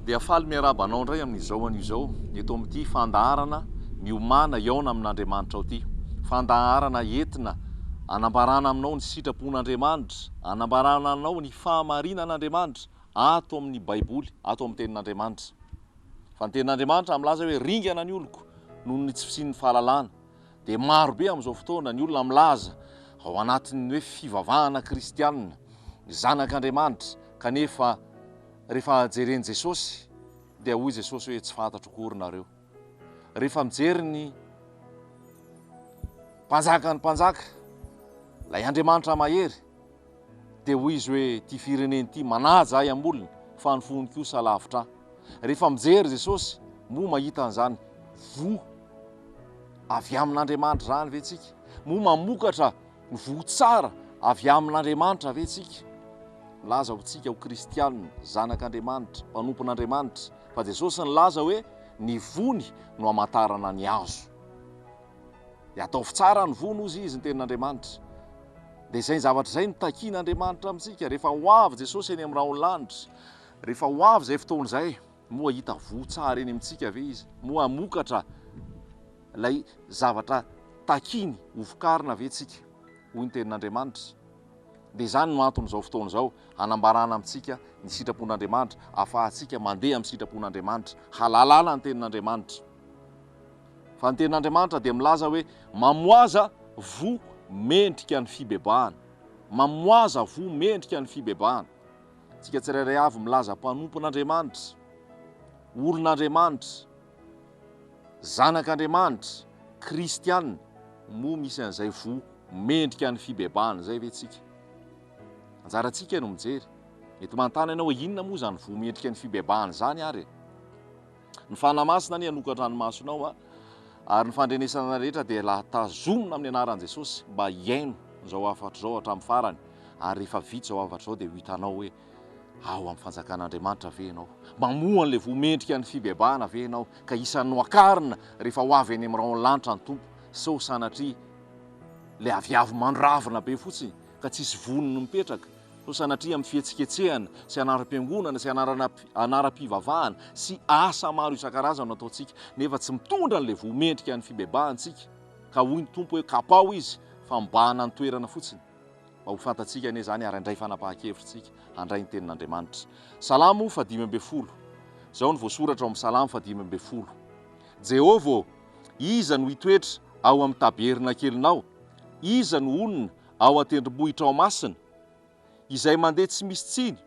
Dia faly miarahaba anao indray amin'izao anio izao eto amin'ity fandaharana miomana hiaona amin'Andriamanitrao ity. Fandaharana entina anambarana aminao ny sitrapon'Andriamanitra, anambarana anao ny fahamarinan'Andriamanitra ato amin'ny Baiboly, ato amin'ny Tenin'Andriamanitra. Fa ny tenin'Andriamanitra milaza hoe ringana ny oloko noho ny tsy fisian'ny fahalalana. Dia maro be amin'izao fotoana ny olona milaza ao anatin'ny hoe fivavahana kristianina, zanak'Andriamanitra, kanefa rehefa jeren'i Jesosy dia hoy Jesosy hoe tsy fantatro akory nareo. Rehefa mijery ny mpanjakan'ny mpanjaka, ilay Andriamanitra mahery, Dia hoy izy hoe, Ity firenena ity manaja ahy am-bolony, fa ny fony kosa lavitra ahy. Rehefa mijery Jesosy, moa mahita an'izany voa avy amin'Andriamanitra izany ve tsika? Moa mamokatra ny voa tsara avy amin'Andriamanitra ve tsika? Milaza ho tsika ho kristianina, zanak'Andriamanitra, mpanompon'Andriamanitra, fa Jesosy nilaza hoe, Ny vony no hamantarana ny hazo. Dia ataovy tsara ny vono, hozy izy, ny tenin'Andriamanitra. Dia izay zavatra izay no takian'Andriamanitra amintsika. Rehefa ho avy Jesosy eny amin'ny rahonlanitra, rehefa ho avy izay fotoana izay, moa hita voa tsara eny amintsika ve Izy? Moa hamokatra ilay zavatra takiany hovokarina ve tsika? hoy ny tenin'Andriamanitra. Dia izany no anton'izao fotoana izao, hanambarana amintsika ny sitrapon'Andriamanitra, ahafahantsika mandeha amin'ny sitrapon'Andriamanitra, halalana ny tenin'Andriamanitra. Fa ny tenin'Andriamanitra dia milaza hoe, Mamoaza voa mendrika ny fibebahana. Mamoaza voa mendrika ny fibebahana. Antsika tsirairay avy milaza mpanompon'Andriamanitra, olon'Andriamanitra, zanak'Andriamanitra, kristiana, moa misy an'izay voa mendrika ny fibebahana izay ve tsika? Anjarantsika no mijery. Mety manontany ianao hoe inona moa izany voa mendrika ny fibebahana izany ary e? Ny Fanahy Masina anie hanoka an-dranomasonao a! ary ny fandrenesana rehetra dia la tazomina amin'ny anaran'i Jesosy mba hihaino izao hafatra izao hatramin'ny farany ary rehefa vita izao hafatra izao dia ho hitanao hoe ao amin'ny fanjakan'Andriamanitra ve ianao? mamoha an'ilay voa mendrika ny fibebahana ve ianao ka isan'ny nohakarina rehefa ho avy any amin'ny rahon'ny lanitra ny Tompo sao sanatria ilay aviavy mandrarvina be fotsiny ka tsisy voniny mipetraka no sanatria amin'ny fihetsiketsehana sy anaram-piangonana sy anarana anaram-pivavahana sy asa maro isan-karazany no ataontsika nefa tsy mitondra an'ilay voa mendrika ny fibebahantsika ka hoy ny Tompo hoe kapaho izy fa mibahana ny toerana fotsiny mba ho fantatsika anie izany ary handray fanapahan-kevitsika handray ny tenin'Andriamanitra Salamo fa dimy ambin'ny folo izao no voasoratra ao amin'ny Salamo fa dimy ambin'ny folo Jehovah ô iza no hitoetra ao amin'ny tabernakelinao iza no honina ao an-tendrombohitra ao Masina, izay mandeha tsy misy tsiny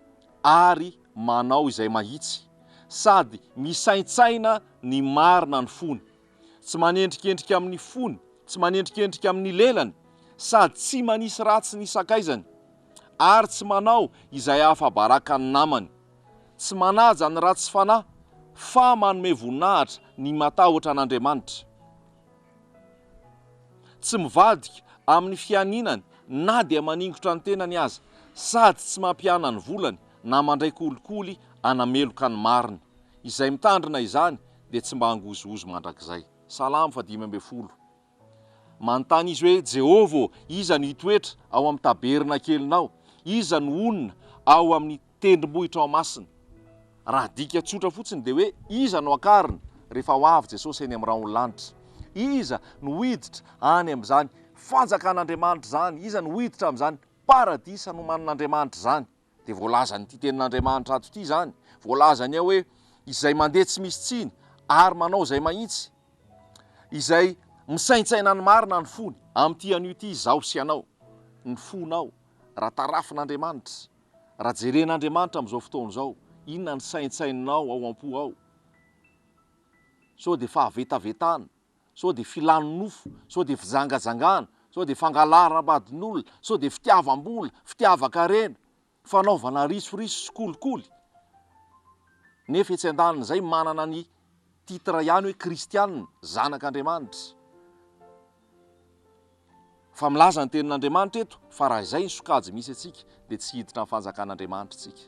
ary manao izay mahitsy, sady misaintsaina ny marina ny fony, tsy manendrikendrika amin'ny fony, tsy manendrikendrika amin'ny lelany, sady tsy manisy ratsy ny sakaizany, ary tsy manao izay ahafabaraka ny namany, tsy manaja ny ratsy fanahy, fa manome voninahitra ny matahotra an'Andriamanitra. Tsy mivadika amin'ny fianinany na dia maningotra ny tenany aza, sady tsy mampihana ny volany na mandray kolikoly hanameloka ny marina. Izay mitandrina izany dia tsy mba hangozohozo mandrakizay. Salamo fahadimy ambin'ny folo. Manontany izy hoe, Jehovah ô, iza no hitoetra ao amin'ny tabernakelinao? Iza no honina ao amin'ny. tendrombohitra ao Masina. Raha dika tsotra fotsiny dia hoe iza no akarina rehefa ho avy Jesosy eny amin'ny rahon'ny lanitra? Iza no hiditra any amin'izany fanjakan'Andriamanitra izany? Iza no hiditra amin'izany paradisa nomanin'Andriamanitra izany? Dia voalazan'ity tenin'Andriamanitra ato ity izany, voalazany ao hoe izay mandeha tsy misy tsiny ary manao izay mahitsy, izay misaintsaina ny marina ny fony, amin'ity anio ity izaho sy ianao, ny fonao raha tarafin'Andriamanitra. Raha jeren'Andriamanitra amin'izao fotoana izao, inona ny saintsaininao ao am-po ao? Sao dia fahavetavetana? Sao dia filanonofo? Sao dia fijangajangana? Sao dia fangalaram-badin'olona? Sao dia fitiavam-bola, fitiavan-karena, fanaovana risoriso sy kolikoly? Nefa etsy an-danin'izay manana ny titre ihany hoe kristianina, zanak'Andriamanitra. Fa milaza ny Tenin'Andriamanitra eto fa raha izay ny sokajy misy antsika dia tsy hiditra amin'ny Fanjakan'Andriamanitra isika.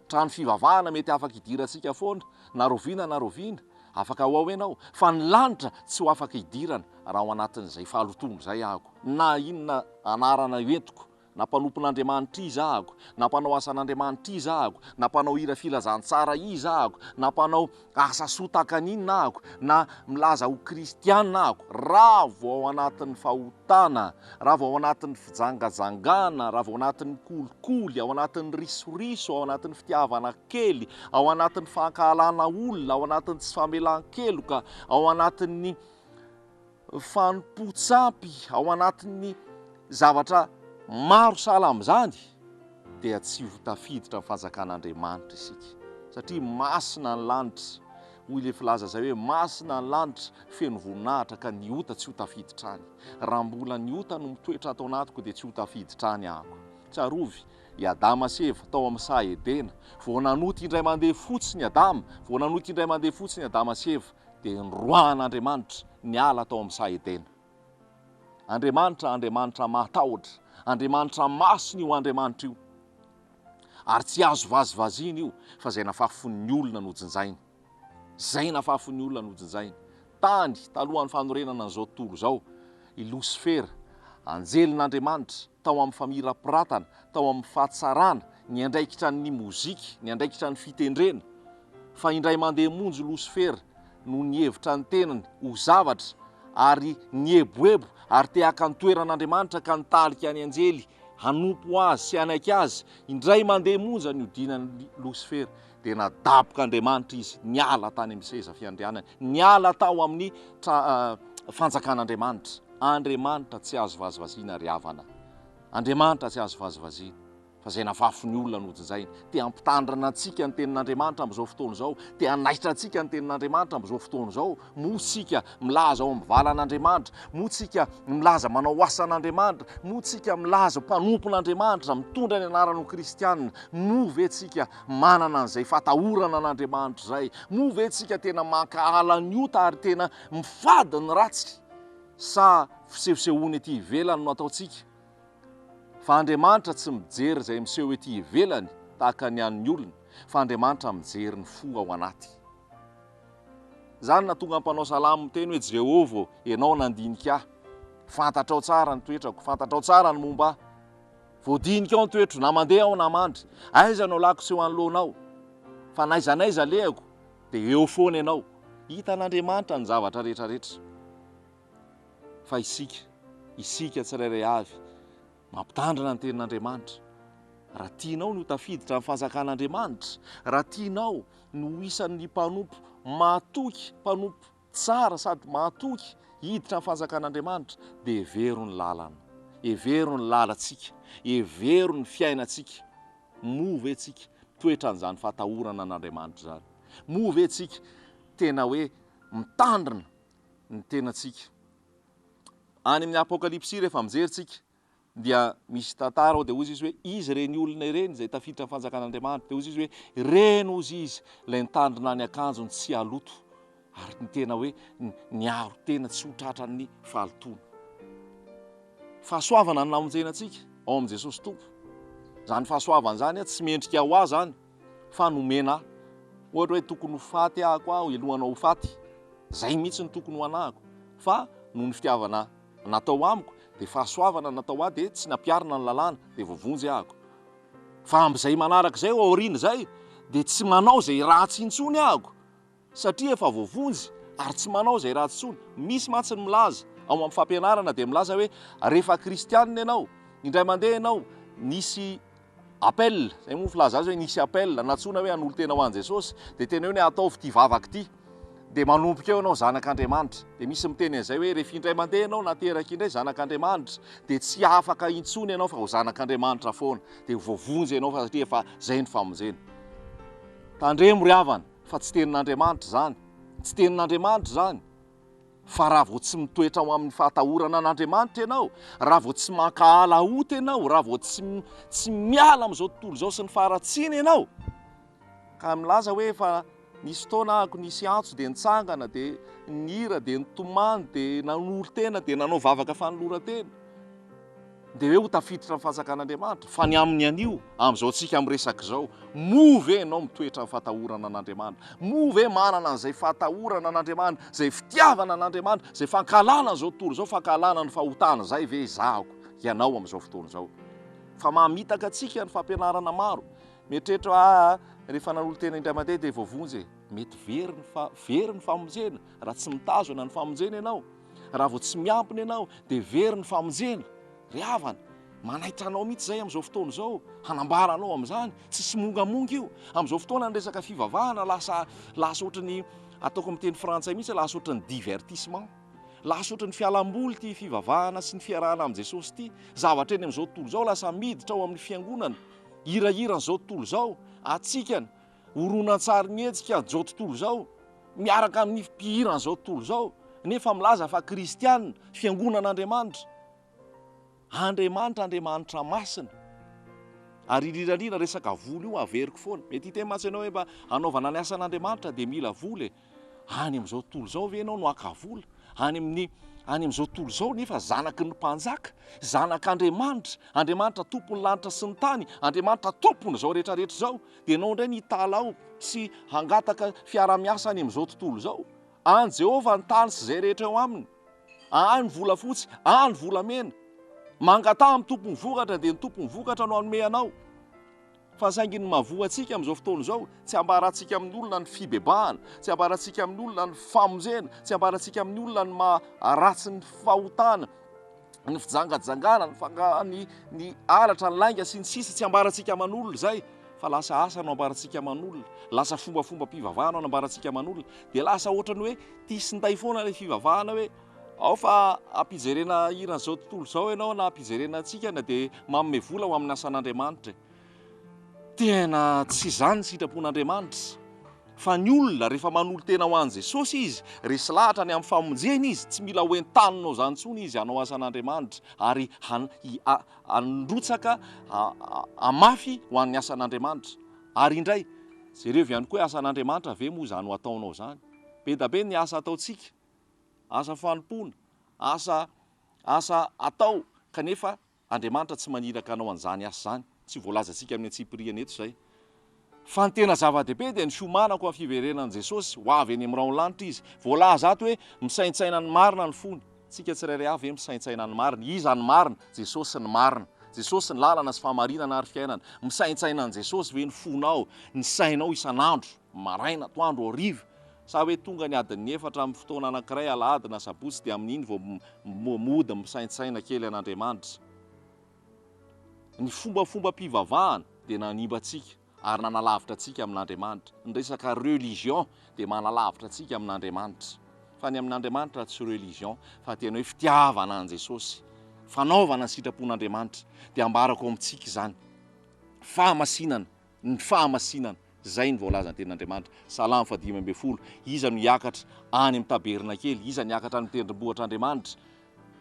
Trano fivavahana mety afaka idirantsika foana na roviana na roviana, afaka ho ao ianao, fa ny lanitra tsy ho afaka idirana raha ao anatin'izay fahalotoana izay aho, na inona anarana entiko Na mpanompon'Andriamanitra iza ako, na mpanao asan'Andriamanitra iza ako, na mpanao hira filazantsara iza ako, na mpanao asa soa tahaka ny inona ako, na milaza ho kristiana ako, raha vao ao anatin'ny fahotana, raha vao ao anatin'ny fijangajangana, raha vao ao anatin'ny kolikoly, ao anatin'ny risoriso, ao anatin'ny fitiavana kely, ao anatin'ny fankahalana olona, ao anatin'ny tsy famelan-keloka, ao anatin'ny. fanompoan-tsampy ao anatin'ny zavatra maro sahala amin'izany dia tsy ho tafiditra ny fanjakan'Andriamanitra isika satria masina ny lanitra, hoy ilay filaza izay hoe masina ny lanitra feno voninahitra ka ny ota tsy ho tafiditra any. Raha mbola ny ota no mitoetra ato anatiko dia tsy ho tafiditra any aho. Tsarovy i Adama sy Eva tao amin'ny saha Edena, vao nanota indray mandeha fotsiny Adama, vao nanota indray mandeha fotsiny Adama sy Eva dia noroahan'Andriamanitra ny ala tao amin'ny saha Edena. Andriamanitra, Andriamanitra mahatahotra, Andriamanitra masina io Andriamanitra io. Ary tsy azo vazivaziana io fa izay nafafin'ny olona no jinjainy. Izay nafafin'ny olona no jinjainy. Tany, talohan'ny fanorenana an'izao tontolo izao, i Losifera, anjelin'Andriamanitra, tao amin'ny famirapiratana, tao amin'ny fahatsarana, niandraikitra ny mozika, niandraikitra ny fitendrena, fa indray mandeha monjy Losifera no nihevitra ny tenany ho zavatra ary nieboebo ary te haka ny toeran'Andriamanitra ka nitarika ny anjely hanompo Azy sy hanaiky Azy, indray mandeha monja nihodinan'i Losifera dia nadabok'Andriamanitra izy, niala tany amin'ny seza fiandrianany, niala tao amin'ny tra fanjakan'Andriamanitra. Andriamanitra tsy azo vazivaziana ry havana, Andriamanitra tsy azo vazivaziana. fa izay navafy ny olona nojinjainy. Te hampitandrina antsika ny Tenin'Andriamanitra amin'izao fotoana izao, te hanaitra antsika ny Tenin'Andriamanitra amin'izao fotoana izao. Moa isika milaza ao amin'ny valan'Andriamanitra? Moa isika milaza manao asan'Andriamanitra? Moa isika milaza mpanompon'Andriamanitra, mitondra ny anaran' ho kristiana? Moa ve isika manana an'izay fatahorana an'Andriamanitra izay? Moa ve isika tena mankahala ny ota ary tena mifady ny ratsy? Sa fisehosehoana ety ivelany no ataontsika? Fa Andriamanitra tsy mijery izay miseho ety ivelany tahaka ny an'ny olona, fa Andriamanitra mijery ny fo ao anaty. Izany no nahatonga ny mpanao salamo miteny hoe, Jehovah ô, ianao nandinika ahy. Fantatrao tsara ny toetrako, fantatrao tsara ny momba ahy. Voadinikao ny toetro, na mandeha aho na mandry. Aiza no alako tsy ho anoloanao? Fa n'aiza n'aiza alehako, dia eo foana ianao. Hitan'Andriamanitra ny zavatra rehetra rehetra. fa isika, isika tsirairay avy, mampitandrina ny Tenin'Andriamanitra. Raha tianao ny ho tafiditra amin'ny Fanjakan'Andriamanitra, raha tianao ny ho isan'ny mpanompo mahatoky, mpanompo tsara sady mahatoky hiditra amin'ny Fanjakan'Andriamanitra, dia hevero ny lalana, hevero ny lalantsika, hevero ny fiainantsika. Moa ve tsika mitoetra an'izany fahatahorana an'Andriamanitra izany? Moa ve tsika tena hoe mitandrina ny tenantsika. Any amin'ny Apokalypsy rehefa mijery tsika dia misy tantara ao dia hozy izy hoe izy ireny olona ireny izay tafiditra amin'ny fanjakan'Andriamanitra dia hozy izy hoe ireny hozy izy ilay nitandrina ny akanjony tsy haloto ary ny tena hoe niaro tena tsy ho tratran'ny fahalotoana. Fahasoavana ny namonjena antsika ao amin'i Jesosy Tompo. Izany fahasoavana izany tsy mendrika ho ahy izany. fa nomena ahy. Ohatra hoe tokony ho faty ahako aho eloha anao ho faty. Izay mihitsy no tokony ho anahako. Fa noho ny fitiavana natao amiko, dia fahasoavana natao ahy, dia tsy nampiharina ny lalàna, dia voavonjy ahako. Fa amin'izay manaraka izay, ao aoriana izay, dia tsy manao izay ratsy intsony ahako, Satria efa voavonjy ary tsy manao izay ratsy intsony. Misy mantsy ny milaza ao amin'ny fampianarana dia milaza hoe rehefa kristianina ianao, indray mandeha ianao nisy appel, izay moa ny filaza azy hoe nisy appel, nantsoina hoe hanolo-tena ho an'i Jesosy, dia tena hoe ataovy ity vavaka ity, dia manomboka eo ianao zanak'Andriamanitra. Dia misy miteny an'izay hoe rehefa indray mandeha ianao nateraka indray zanak'Andriamanitra dia tsy afaka intsony ianao fa ho zanak'Andriamanitra foana, dia ho voavonjy ianao fa satria efa izay ny famonjena. Tandremo ry havana! Fa tsy tenin'Andriamanitra izany. Tsy tenin'Andriamanitra izany. Fa raha vao tsy mitoetra ao amin'ny fahatahorana an'Andriamanitra ianao, raha vao tsy mankahala ota ianao, raha vao tsy, tsy miala amin'izao tontolo izao sy ny faharatsiana ianao, ka milaza hoe efa nisy fotoana ahako nisy antso dia nitsangana, dia nihira, dia nitomany, dia nanolo-tena, dia nanao vavaka fanoloran-tena. Dia hoe ho tafiditra amin'ny fanjakan'Andriamanitra? Fa ny amin'ny anio, amin'izao antsika miresaka izao, moa ve ianao mitoetra amin'ny fahatahorana an'Andriamanitra? Moa ve manana an'izay fahatahorana an'Andriamanitra, izay fitiavana an'Andriamanitra, izay fankahalana an'izao tontolo izao, fankahalana ny fahotana izay ve ezahako hianao amin'izao fotoana izao? Fa mamitaka antsika ny fampianarana maro. Mieritreritra hoe aa, rehefa nanolo-tena indray mandeha dia voavonjy e! Mety very ny fa, very ny famonjena raha tsy mitazona ny famonjena ianao. Raha vao tsy miampina ianao dia very ny famonjena. Ry havana, manaitra anao mihitsy izay amin'izao fotoana izao, hanambara anao amin'izany. Tsy simongamonga io. Amin'izao fotoana ny resaka fivavahana lasa lasa ohatran'ny ataoko amin'ny teny frantsay mihitsy hoe lasa ohatran'ny divertissement. Lasa ohatran'ny fialamboly ity fivavahana sy ny fiarahana amin'i Jesosy ity. Zavatra eny amin'izao tontolo izao lasa miditra ao amin'ny fiangonana, hirahiran'izao tontolo izao, hatsikana. Horonantsarin-hetsika izao tontolo izao miaraka amin'ny mpihiran'izao tontolo izao nefa milaza fa kristiana, fiangonan'Andriamanitra. Andriamanitra Andriamanitra masina. Ary rirarira resaka vola io averiko foana. Mety hiteny mantsy ianao hoe mba hanaovana ny asan'Andriamanitra dia mila vola e! Any amin'izao tontolo izao ve ianao no haka vola? Any amin'ny any amin'izao tontolo izao nefa zanaky ny mpanjaka, zanak'Andriamanitra, Andriamanitra tompon'ny lanitra sy ny tany, Andriamanitra tompon'izao rehetra rehetra izao, dia ianao indray no hitalaho sy hangataka fiarahamiasa any amin'izao tontolo izao? An'i Jehovah ny tany sy izay rehetra eo aminy. Ahy ny volafotsy, ahy ny volamena. Mangataha amin'ny Tompon'ny vokatra, dia ny Tompon'ny vokatra no hanome anao. Fa saingy ny mahavoa antsika amin'izao fotoana izao, tsy ambarantsika amin'ny olona ny fibebahana, tsy ambarantsika amin'ny olona ny famonjena, tsy ambarantsika amin'ny olona ny maha ratsy ny fahotana, ny fijangajangana, ny fanga, ny ny halatra, ny lainga sy ny sisa Tsy ambarantsika aman'olona izay fa lasa asa no ambarantsika aman'olona, lasa fombafombam-pivavahana no ambarantsika aman'olona, dia lasa ohatran'ny hoe tia sy nday foana ilay fivavahana hoe, Ao fa ampijerena hiran'izao tontolo izao ianao na ampijerena antsika na dia manome vola ho amin'ny asan'Andriamanitra e. Tena tsy izany ny sitrapon'Andriamanitra. Fa ny olona rehefa manolo-tena ho an'i Jesosy izy, resy lahatra ny amin'ny famonjena izy, tsy mila hoentaninao izany intsony izy hanao asan'Andriamanitra ary handrotsaka hamafy ho an'ny asan'Andriamanitra. Ary indray, jereo avy ihany koa hoe asan'Andriamanitra ve moa izany ho ataonao izany? Be da be ny asa ataontsika. asa fanompoana, asa asa atao kanefa Andriamanitra tsy maniraka anao an'izany asa izany, tsy voalazantsika amin'ny antsipiriany eto izay. Fa ny tena zava-dehibe dia ny fiomanako amin'ny fiverenan'i Jesosy ho avy eny amin'ny rahon'ny lanitra Izy. Voalaza ato hoe misaintsaina ny marina ny fony. Tsika tsirairay avy ve misaintsaina ny marina? Iza ny marina? Jesosy ny marina. Jesosy ny lalana sy fahamarinana ary fiainana. Misaintsaina an'i Jesosy ve ny fonao, ny sainao isan'andro? maraina, atoandro, hariva, sa hoe tonga ny adin'ny efatra amin'ny fotoana anankiray alahady na sabotsy dia amin'iny vao mody misaintsaina kely an'Andriamanitra? Ny fombafombam-pivavahana dia nanimba antsika ary nanalavitra antsika amin'Andriamanitra. Ny resaka religion dia manalavitra antsika amin'Andriamanitra. Fa ny amin'Andriamanitra tsy religion fa tena hoe fitiavana an'i Jesosy, fanaovana ny sitrapon'Andriamanitra. Dia ambarako amintsika izany, fahamasinana ny fahamasinana, izay ny voalazan'ny Tenin'Andriamanitra, Salamo faha dimy ambin'ny folo, iza no hiakatra any amin'ny tabernakely, iza no hiakatra any amin'ny tendrombohitr'Andriamanitra,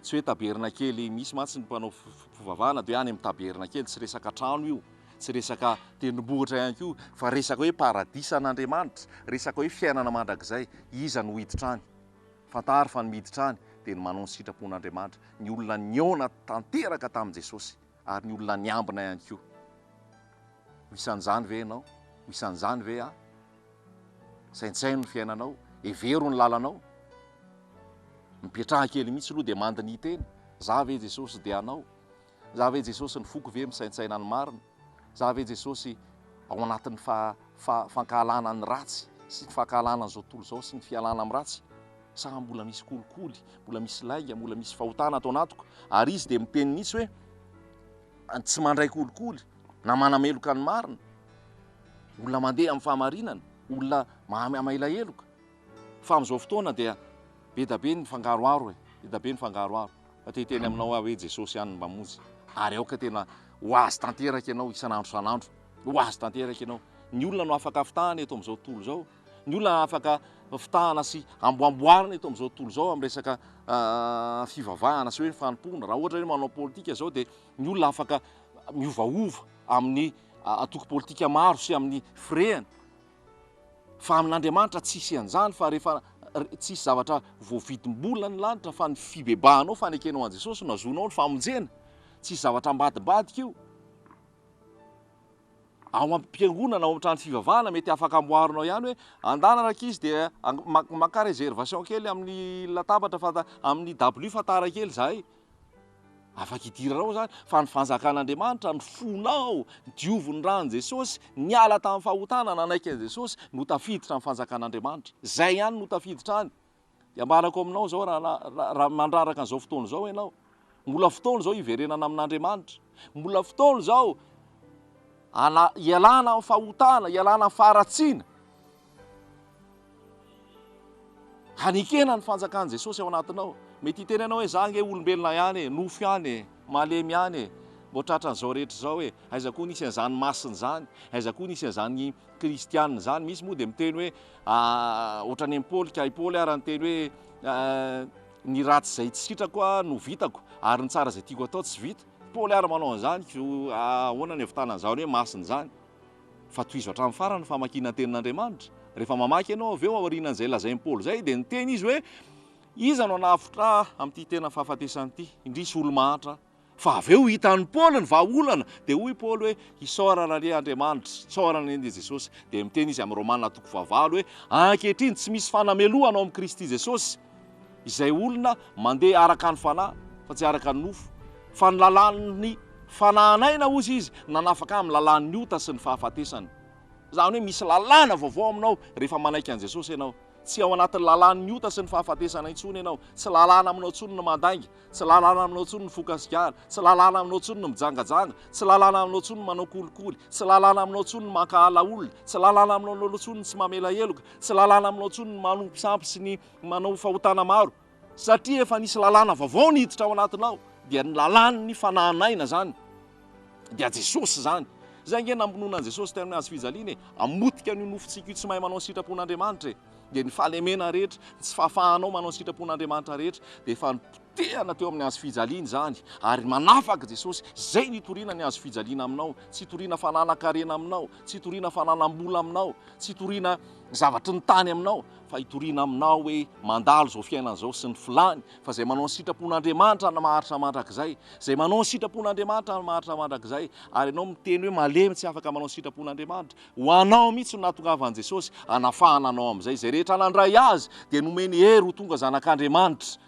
tsy hoe tabernakely, misy mantsy ny mpanao fivavahana dia hoe any amin'ny tabernakely, tsy resaka trano io, tsy resaka tendrombohitra ihany koa, fa resaka hoe paradisan'Andriamanitra, resaka hoe fiainana mandrakizay, iza no hiditra any? fantaro fa ny miditra any dia ny manao ny sitrapon'Andriamanitra, ny olona nihaona tanteraka tamin'i Jesosy. Ary ny olona niambina ihany koa. Ho isan'izany ve ianao? Ho isan'izany ve aho? Saintsaino ny fiainanao, hevero ny lalanao. Mipetraha kely mihitsy aloha dia mando ny hiteny, Za ve Jesosy dia anao? Za ve Jesosy ny foko ve misaintsaina ny marina? Za ve Jesosy ao anatin'ny fa, fa, fankahalana ny ratsy sy ny fankahalana an'izao tontolo izao sy ny fialana amin'ny ratsy? Sa mbola misy kolikoly, mbola misy lainga, mbola misy fahotana ato anatiko? Ary izy dia miteny mihitsy hoe tsy mandray kolikoly na manameloka ny marina. Olona mandeha amin'ny fahamarinana, olona maha maila heloka. Fa amin'izao fotoana dia be da be ny fangaroharo e, be da be ny fangaroharo. Fa te hiteny aminao aho hoe Jesosy ihany no mamonjy. Ary aoka tena ho azy tanteraka ianao isan'andro isan'andro. Ho azy tanteraka ianao. Ny olona no afaka afitahana eto amin'izao tontolo izao. Ny olona afaka fitahana sy amboamboarina eto amin'izao tontolo izao amin'ny resaka fivavahana sy hoe ny fanompoana. Raha ohatra hoe manao politika izao dia ny olona afaka miovaova amin'ny antoko politika maro sy amin'ny firehany. Fa amin'Andriamanitra tsisy an'izany fa rehefa tsisy zavatra voavidim-bola ny lanitra fa ny fibebahanao, fanekenao an'i Jesosy no hahazoanao ny famonjena. Tsisy zavatra ambadimbadika io. ao am-piangonana, ao amin'ny trano fivavahana, mety afaka amboarinao ihany hoe andana rankizy dia maka réservation kely amin'ny latabatra fa amin'ny dabilio fa tara kely izahay. Afaka hidiranao izany fa ny fanjakan'Andriamanitra ny fonao, diovy ny ran'i Jesosy, niala tamin'ny fahotana nanaiky an'i Jesosy no tafiditra amin'ny fanjakan'Andriamanitra. Izay ihany no tafiditra any. Dia ambarako aminao izao rahalahy, raha mandraraka an'izao fotoana izao ianao, mbola fotoana izao hiverenana amin'Andriamanitra, mbola fotoana izao ana- hialana amin'ny fahotana, hialana amin'ny faharatsiana, hanekena ny fanjakan'i Jesosy ao anatinao. Mety hiteny anao hoe za ange olombelona ihany e, nofo ihany e, malemy ihany e, mbola tratran'izao rehetra izao e, aiza koa nisy an'izany masina izany, aiza koa nisy an'izany Kristiana izany, misy moa dia miteny hoe ah, ohatran'ny an'i Paoly, ka i Paoly ary niteny hoe ah, ny ratsy izay tsy sitrako ah, no vitako, ary ny tsara izay tiako atao tsy vita. Paoly ary manao an'izany, ah, ahoana ny havitana an'izany hoe masina izany? Fa tohizo hatramin'ny farany ny famakiana ny tenin'Andriamanitra. Rehefa mamaky ianao avy eo aorianan'izay lazain'i Paoly izay, dia niteny izy hoe, Iza no hanafotra ahy amin'ity tena fahafatesana ity? Indrisy olo-mahantra aho. Fa avy eo hitan'i Paoly ny vahaolana, dia hoy i Paoly hoe, Isaorana anie Andriamanitra, isaorana anie ny Jesosy. Dia miteny izy amin'ny Romana toko fahavalo hoe, Ankehitriny tsy misy fanamelohana ao amin'i Kristy Jesosy izay olona mandeha araka ny fanahy, fa tsy araka ny nofo. Fa ny lalàn'ny fanahinay na hozy izy, nanafaka ahy amin'ny lalàn'ny ota sy ny fahafatesana. Izany hoe misy lalàna vaovao aminao rehefa manaiky an'i Jesosy ianao. Tsy ao anatin'ny lalàn'ny ota sy ny fahafatesana intsony ianao. Tsy lalàna aminao intsony ny mandainga. Tsy lalàna aminao intsony ny fokasikana, tsy lalàna aminao intsony ny mijangajanga, tsy lalàna aminao intsony ny manao kolikoly, tsy lalàna aminao intsony ny mankahala olona, tsy lalàna aminao intsony ny tsy mamela heloka, tsy lalàna aminao intsony ny manompo sampy sy ny manao fahotana maro. Satria efa nisy lalàna vaovao niditra ao anatinao, dia ny lalàn'ny fanahin' aina izany, dia Jesosy izany. Izay ange namonoana an'i Jesosy tamin'ny hazo fijaliana e, hamotika an'io nofontsika io tsy mahay manao ny sitrapon'Andriamanitra e. dia ny fahalemena rehetra, ny tsy fahafahanao manao ny sitrapon'Andriamanitra rehetra, dia efa nipotehana teo amin'ny hazo fijaliana izany, ary manafaka Jesosy, izay no itoriana ny hazo fijaliana aminao, tsy itoriana fananan-karena aminao, tsy itoriana fananam-bola aminao, tsy itoriana zavatry ny tany aminao, fa itoriana aminao hoe mandalo izao fiainana izao sy ny filany, fa izay manao ny sitrapon'Andriamanitra no maharitra mandrakizay, izay manao ny sitrapon'Andriamanitra no maharitra mandrakizay, ary ianao miteny hoe malemy tsy afaka manao ny sitrapon'Andriamanitra, Ho anao mihitsy no nahatongavan'i Jesosy hanafahana anao amin'izay. Izay rehetra nandray Azy dia nomeny hery ho tonga zanak'Andriamanitra.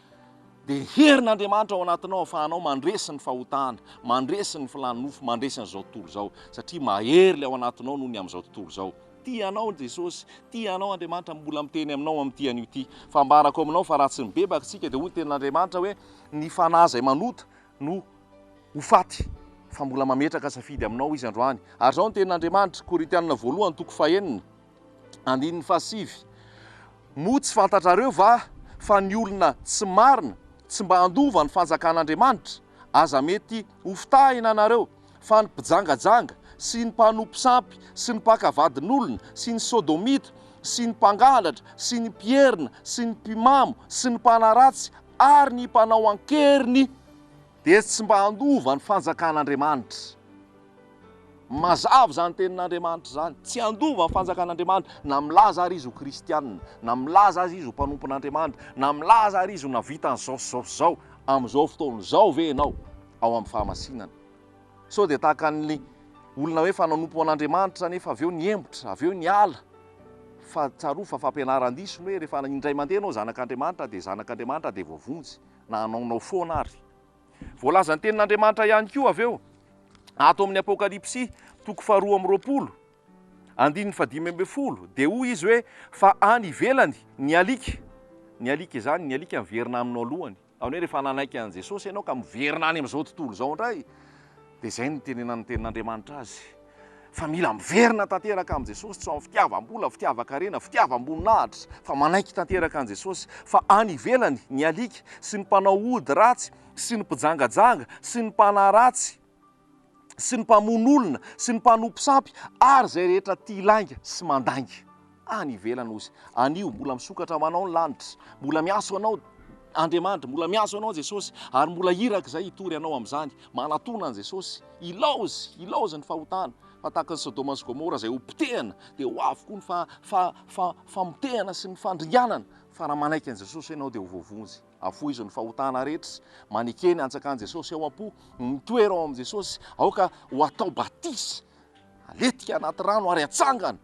Dia ny herin'Andriamanitra ao anatinao ahafahanao mandresy ny fahotana, mandresy ny filàn'ny nofo, mandresy an'izao tontolo izao. Satria mahery ilay ao anatinao noho ny amin'izao tontolo izao. Tia anao Jesosy, tia anao Andriamanitra, mbola miteny aminao amin'ity anio ity. Fambarako aminao fa raha tsy mibebaka isika dia hoy ny tenin'Andriamanitra hoe, Ny fanahy izay manota, no ho faty, fa mbola mametraka safidy aminao Izy androany. Ary izao ny tenin'Andriamanitra, Korintiana voalohany toko fahenina, andininy fahasivy, Moa tsy fantatrareo va fa ny olona tsy marina tsy mba handova ny fanjakan'Andriamanitra? Aza mety hofitahina nareo fa ny mpijangajanga sy ny mpanompo sampy sy ny mpaka vadin'olona sy ny sodomita sy ny mpangalatra sy ny mpierina sy ny mpimamo sy ny mpanaratsy ary ny mpanao an-keriny dia tsy mba handova ny fanjakan'Andriamanitra. Mazava izany tenin'Andriamanitra izany, tsy handova ny fanjakan'Andriamanitra, na milaza ary izy ho kristiana, na milaza aza izy ho mpanompon'Andriamanitra, na milaza ary izy ho navitan'izao sy izao sy izao, amin'izao fotoana izao ve ianao ao amin'ny fahamasinana? Sao dia tahaka an'ilay olona hoe efa nanompo an'Andriamanitra nefa avy eo nihemotra, avy eo niala. Fa tsarovy fa fampianaran-diso ny hoe rehefa indray mandeha ianao zanak'Andriamanitra dia zanak'Andriamanitra dia voavonjy na hanaonao foana ary. Voalazan'ny Tenin'Andriamanitra ihany koa avy eo ato amin'ny Apokalypsy toko faharoa amby roapolo, andininy fahadimy ambin'ny folo, dia hoy izy hoe fa any ivelany ny alika, ny alika izany, ny alika miverina aminao alohany. Zany hoe rehefa nanaiky an'i Jesosy ianao ka miverina any amin'izao tontolo izao indray dia izay no nitenenan'ny tenin'Andriamanitra azy fa mila miverina tanteraka amin'i Jesosy tsy ho amin'ny fitiavam-bola, fitiavan-karena, fitiavam-boninahitra fa manaiky tanteraka an'i Jesosy fa any ivelany ny alika sy ny mpanao ody ratsy sy ny mpijangajanga sy ny mpanaratsy sy ny mpamono olona sy ny mpanompo sampy ary izay rehetra tia lainga sy mandainga any ivelany hozy anio mbola misokatra ho anao ny lanitra mbola miaso anao Andriamanitra mbola miaso anao Jesosy ary mbola iraka izay hitory anao amin'izany manatona an'i Jesosy ilaozy ilaozy ny fahotana fa tahaka ny Sodoma sy Gomora izay hopotehana dia ho avy koa ny fa fa fa famotehana sy ny fandringanana fa raha manaiky an'i Jesosy ianao dia ho voavonjy Afoizo ny fahotana rehetra. Maneke ny antsakan'i Jesosy ao am-po. Mitoera ao amin'i Jesosy. Aoka ho atao batisa. Aletika anaty rano ary atsangana.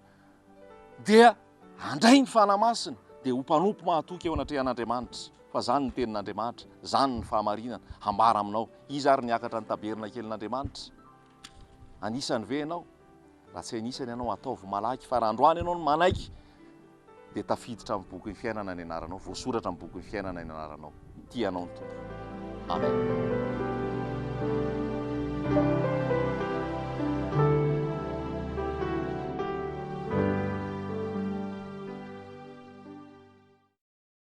Dia handray ny Fanahy Masina. Dia ho mpanompo mahatoky eo anatrehan'Andriamanitra. Fa izany ny tenin'Andriamanitra. Izany ny fahamarinana. Hambara aminao. Iza ary niakatra ny tabernakelin'Andriamanitra? Anisany ve ianao? Raha tsy anisany ianao, ataovy malaky fa raha androany ianao no manaiky dia tafiditra amin'ny bokin'ny fiainana ny anaranao, voasoratra amin'ny bokin'ny fiainana ny anaranao. Tia anao ny Tompo. Amen.